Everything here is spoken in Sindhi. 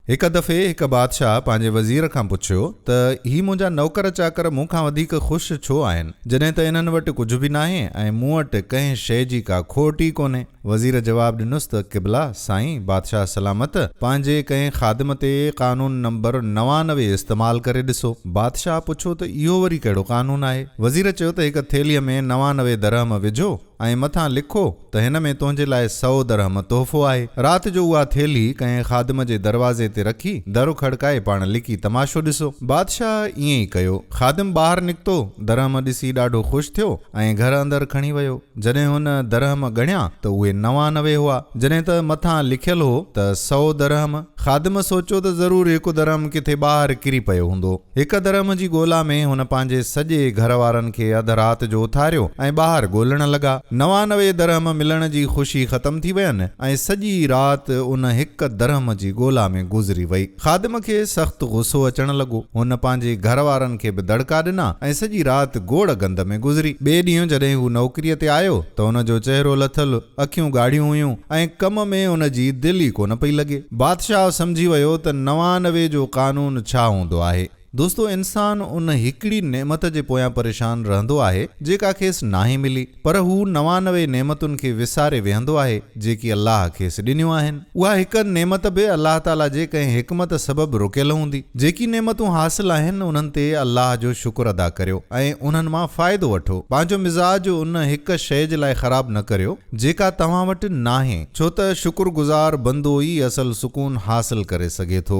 هڪ دفعي هڪ بادشاهه پنهنجي وزير کان پڇيو ته هي منهنجا نوڪر چاڪر مون کان وڌيڪ خوش ڇو آهن جڏهن ته انهن وٽ ڪجهه به ناهي ۽ مون وٽ ڪنهن شيء جي ڪا کوٽ ئي ڪونهي. وزير جواب ڏنس ته قبلا! سائين بادشاهه سلامت پنهنجي ڪنهن خادم تي قانون نمبر نوانوي استعمال ڪري ڏسو. بادشاهه پڇيو ته اهو وري ڪهڙو قانون آهي؟ وزير چيو ته هڪ ٿيلهيء ۾ نوانوي درهم وجهو. ۽ مٿان لکو ته هن ۾ تنهنجي لاء سئو درهم تحفو آهي. رات جو اها ٿيلهي ڪنهن خادم جي دروازي تي رکي، در کڙڪائي پاڻ لڪي تماشو ڏسو. بادشاهه ائين ئي ڪيو. خادم ٻاهر نڪتو، درهم ڏسي ڏاڍو خوش ٿيو ۽ گهر اندر کڻي ويو. جڏهن هن درهم ڳڻيا ته اهي نوانوي هئا، جڏهن ته مٿان لکيل هو ته سئو درهم. خادم سوچيو ته ضرور هڪ درهم ڪٿي ٻاهر ڪري پيو هوندو. هڪ درهم جي ڳولا ۾ هن پنهنجي سڄي گهر وارن کي اڌ رات جو اٿاريو ۽ ٻاهر ڳولڻ لڳا. نوانوي درهم ملڻ جي خوشي ختم ٿي وين ۽ سڄي رات ان هڪ درهم جي ڳولا ۾ گذري وئي. خادم کي سخت غصو اچڻ لڳو. هن پنهنجي گهر وارن کي به دڙڪا ڏنا ۽ سڄي رات گوڙ گند ۾ گذري. ٻئي ڏينهن جڏهن هو نوڪريء تي آيو ته ان جو چهرو لٿل، اکيون ڳاڙهيون هيون ۽ ڪم ۾ ان جي دل ئي ڪونه پئي لڳي. بادشاهه سمجهي ويو ته نوانوي جو قانون ڇا هوندو آهي. دوستو انسان ان هڪڙي نعمت جي پويان پريشان رهندو آهي جيڪا کيس ناهي ملي پر هو نوانوي نعمتن کي وساري ويهندو آهي جيڪي الله کيس ڏنيون آهن. اها هڪ نعمت به الله تعاليٰ جي ڪنهن حڪمت سبب رڪيل هوندي. جيڪي نعمتون حاصل آهن انهن تي الله جو شڪر ادا ڪريو ۽ انهن مان فائدو وٺو. پنهنجو مزاج ان هڪ شيء جي لاء خراب نه ڪريو جيڪا توهان وٽ ناهي. ڇو ته شڪر گذار بندو ئي اصل سڪون حاصل ڪري سگهي ٿو.